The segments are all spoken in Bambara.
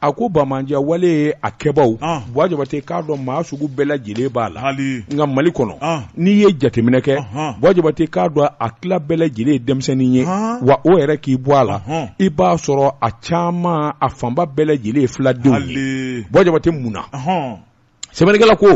a ko banbaanci wale in a kɛbaw buwa jabate k'a dɔn maa sugu bɛɛ lajɛlen b'a la nka mali kɔnɔ n'i ye jateminɛ kɛ buwa jabate k'a dɔn a kɛla bɛɛ lajɛlen denmisɛnnin ye wa o yɛrɛ k'i bɔ a la i b'a sɔrɔ a caman a fanba bɛɛ lajɛlen ye filadenw ye buwa jabate mun na sɛbɛnnikɛla ko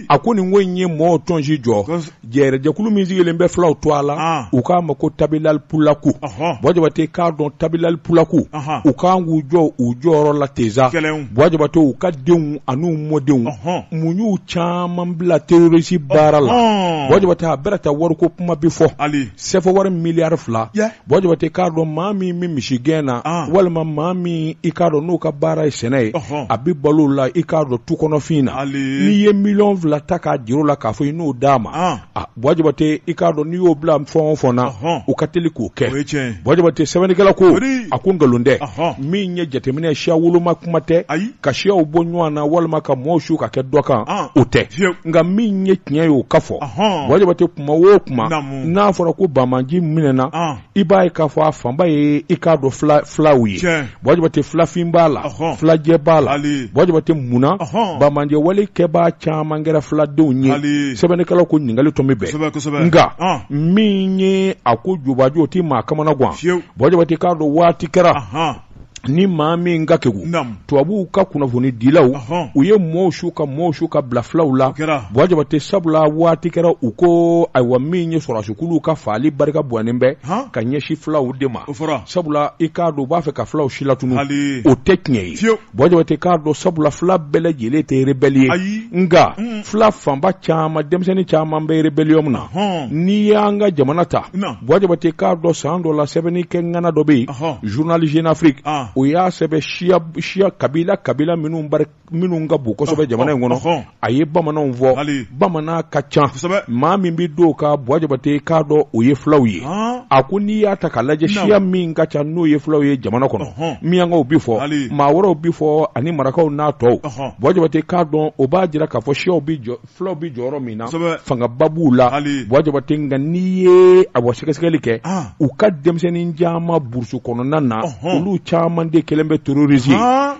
a ko nin ko in ye mɔgɔw tɔnsi jɔ jɛrɛjɛkulu min sigilen bɛ filaw tɔgɔ la u k'a ma ko tabilali pulaku buwa jabate k'a dɔn tabilali pulaku u ka kan k'u jɔ u jɔyɔrɔ la teza buwa jabate u ka denw an'u mɔdenw mun y'u caman bila terorisi baara la buwa jabate a bɛrɛ ta wariko kuma bi fɔ sefawari miliyari fila buwa jabate k'a dɔn maa min bɛ misigɛn na walima maa min i k'a dɔn n'o ka baara ye sɛnɛ ye a bɛ balo la i k'a dɔn tu kɔnɔfin na n'i ye miliyɔn fila ta k'a jir'o la k'a fɔ i n'o d'a ma buwa jabate i k'a dɔn n'i y'o bila fɛn o fɛn na u ka teli k'o kɛ buwa jabate sɛbɛnnikɛla ko a ko nkalon tɛ min ye jateminɛ siya woloma kuma tɛ ka siyaw bɔ ɲɔgɔn na walima ka maaw su ka kɛ dɔ kan o tɛ nka min ye tiɲɛ ye o ka fɔ buwa jabate kuma o kuma n'a fɔra ko banbaanci minɛna i b'a ye k'a fɔ a fanba ye i k'a dɔn filaw ye buwa jabate filafin b'a la filajɛ b'a la buwa jabate munna banbaanci wale kɛbaa caman kɛra filadenw ye sɛbɛnnikɛla ko ɲininkali tun bɛ bɛn nka min ye a ko jubaju o tɛ maa kamana gan buwa jabate i k'a dɔn waati kɛra ni maa min ka kegu tubabuw ka kunnafoni dilaw u ye mɔw su ka mɔw su ka bila filaw la buwa jabate sabula waati kɛra u ko ayiwa min ye sɔrɔdasikulu ka faali barika bɔnnen bɛ ka ɲɛsin filaw de ma sabula i k'a dɔn u b'a fɛ ka filaw si latun o tɛ tiɲɛ ye buwa jabate k'a dɔn sabula fila bɛɛ lajɛlen tɛ rebɛli ye nka fila fanba caman denmisɛnnin caman bɛ rebɛliyɔn na n'i y'an ka jamana ta buwa jabate k'a dɔn san dɔ la sɛbɛnni kɛ ŋana dɔ bɛ yen journal jeune afrique o y'a sɛbɛn siya siya kabila kabila minnu bari minnu ka bon kosɛbɛ jamana in kɔnɔ a ye bamananw fɔ bamanan ka ca maa min bɛ d'o kan buwa jabate k'a dɔn o ye fulaw ye a ko n'i y'a ta k'a lajɛ siya min ka ca n'o ye fulaw ye jamana kɔnɔ minyankaw bi fɔ maa wɛrɛw bi fɔ ani marakaw n'a tɔw buwa jabate k'a dɔn o b'a jira k'a fɔ siyaw bi jɔ fulaw bɛ jɔyɔrɔ min na fangaba b'u la buwa jabate nka n'i ye awa sɛgɛsɛgɛli kɛ ah. u ka denmisɛnnin caman burusu kɔnɔna na olu caman de kɛlen bɛ terorisi ye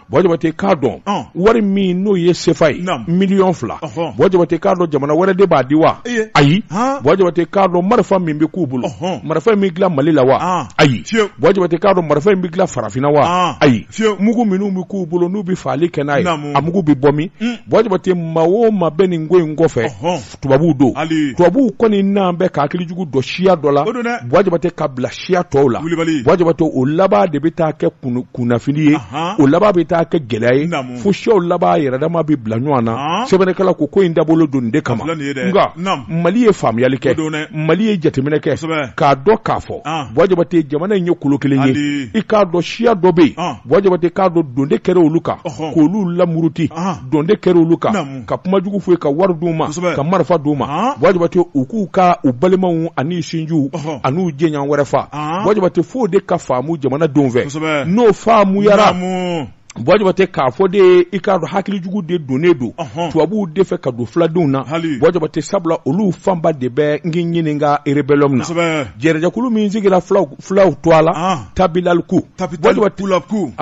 buwa jabate k'a dɔn ah. wari min n'o ye sefa ye miliyɔn fila buwa jabate k'a dɔn jamana wɛrɛ de b'a di wa ayi buwa jabate k'a dɔn marifa min bɛ k'u bolo marifa in bɛ dilan mali la wa ayi buwa jabate k'a dɔn marifa in bɛ dilan farafinna wa ayi fiye mugu minnu bɛ k'u bolo n'u bɛ fagali kɛ n'a ye a mugu bɛ bɔ min buwa jabate maa o maa bɛ nin ko in kɔfɛ tubabuw don tubabuw kɔni nanen bɛ ka hakilijugu don siya dɔ la buwa jabate ka bila siya tɔw la buwa jabate o laban de bɛ taa kɛ kunnafili ye o laban bɛ taa kɛ gɛlɛya ye fo siyaw laban yɛrɛdama bɛ bila ɲɔgɔn na sɛbɛnnikɛla ko ko in dabɔlen don nin de kama nka mali ye faamuyali kɛ mali ye jateminɛ kɛ k'a dɔn k'a fɔ buwa jabate jamana in ye kolo kelen ye i k'a dɔn siya dɔ bɛ yen buwa jabate k'a dɔn don de kɛra olu kan k'olu lamuruti don de kɛra olu kan ka kuma jugu f'u ye ka wari d'u ma ka marifa d'u ma buwa jabate u k'u ka u balimaw ani sinjiw an'u jɛɲɔgɔn wɛrɛ faga buwa jabate fo o de ka faamu jamana denw fɛ n'o faamuyara buwa jabate k'a fɔ de i k'a dɔn hakilijugu de donnen don tubabuw de fɛ ka don filadenw na buwa jabate sabula olu fanba de bɛ n k'i ɲininka erebɛliyɔn na jɛrɛjɛkulu min sigira fulaw tɔgɔ la tabilaliku tabital pulaku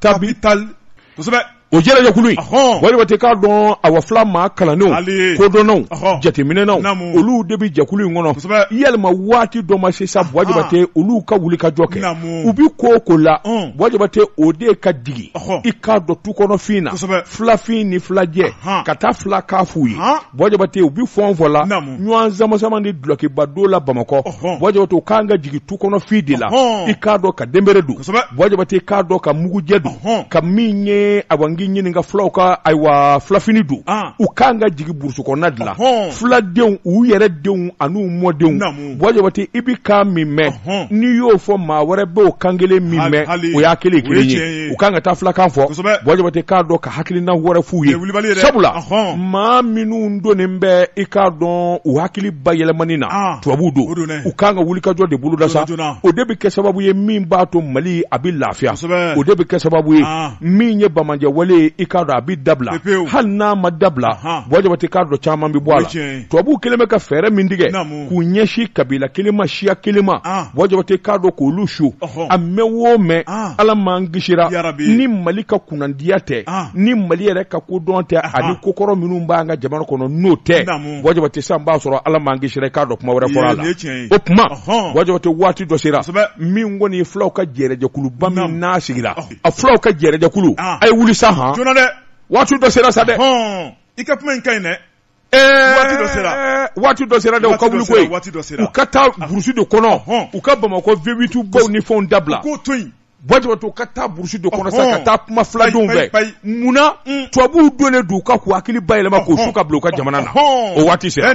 tabi tasɛbɛ o jɛrɛjɛkulu in buwa jabate k'a dɔn awa fila maa kalannenw kodɔnnaw jateminɛnaw olu de bɛ jɛkulu in kɔnɔ yalima waati dɔ ma se sa buwa jabate olu ka wulikajɔ kɛ u bɛ ko o ko la buwa jabate o de ka jigin i k'a dɔn tu kɔnɔfin na filafin ni filajɛ ka taa filakan f'u ye buwa jabate u bɛ fɔ fɔ la ɲɔgɔn samasama ni dulokiba don la bamakɔ buwa jabate u kan ka jigin tu kɔnɔfin de la i k'a dɔn ka denbere don buwa jabate k'a dɔn ka mugujɛ don ka min ye a n k'i ɲininka fulaw ka ayiwa filafini don u kan ka jigin burusi kɔnɔna de la fuladenw u yɛrɛ denw an'u mɔdenw buwa jabate i bɛ kan min mɛn n'i y'o fɔ maa wɛrɛ bɛ o kan kelen min mɛn o y'a kelen kelen ye u kan ka taa fulakan fɔ buwa jabate k'a dɔn ka hakilina wɛrɛ f'u ye sabula maa minnu donnen bɛ i k'a dɔn u hakili bayɛlɛmani na ah. tubabu don u kan ka wulikajɔ de boloda sa o de bɛ kɛ sababu ye min b'a to mali a bɛ lafiya o de bɛ kɛ sababu ye ah. min ye bamajɛ wale ye i k'a dɔn a bɛ dabila hali n'a ma dabila buwa jabate k'a dɔn caman bɛ bɔ a la tubabu kelen bɛ ka fɛɛrɛ min tigɛ k'u ɲɛsin kabila kelen ma siya kelen ma buwa jabate k'a dɔn k'olu su a mɛn o mɛn ala m'an kisira ni mali ka kunnandiya tɛ ni mali yɛrɛ ka kodɔn tɛ ani kokɔrɔ minnu b'an ka jamana kɔnɔ n'o tɛ buwa jabate sisan b'a sɔrɔ ala m'an kisira k'a dɔn kuma wɛrɛ fɔra la o kuma buwa jabate waati dɔ sera min kɔni fulaw ka jɛrɛjɛkuluba min n'a sigira a fulaw ka jɛrɛjɛkulu a ye wuli sa hɔn waati dɔ sera sa dɛ i ka kuma in ka ɲi dɛ waati dɔ sera waati dɔ sera dɛ u ka wuli koyi waati dɔ sera u ka taa ah. burusi de kɔnɔ u ka bamakɔ vewitu baw ni fɛnw dabila k'o to yen buwa jabate u ka taa burusi de kɔnɔ sa ka taa kuma filadenw fɛ munna mm. tubabuw donnen don u kan k'u hakili bayɛlɛma k'u su ka bila u ka jamana na o waati sera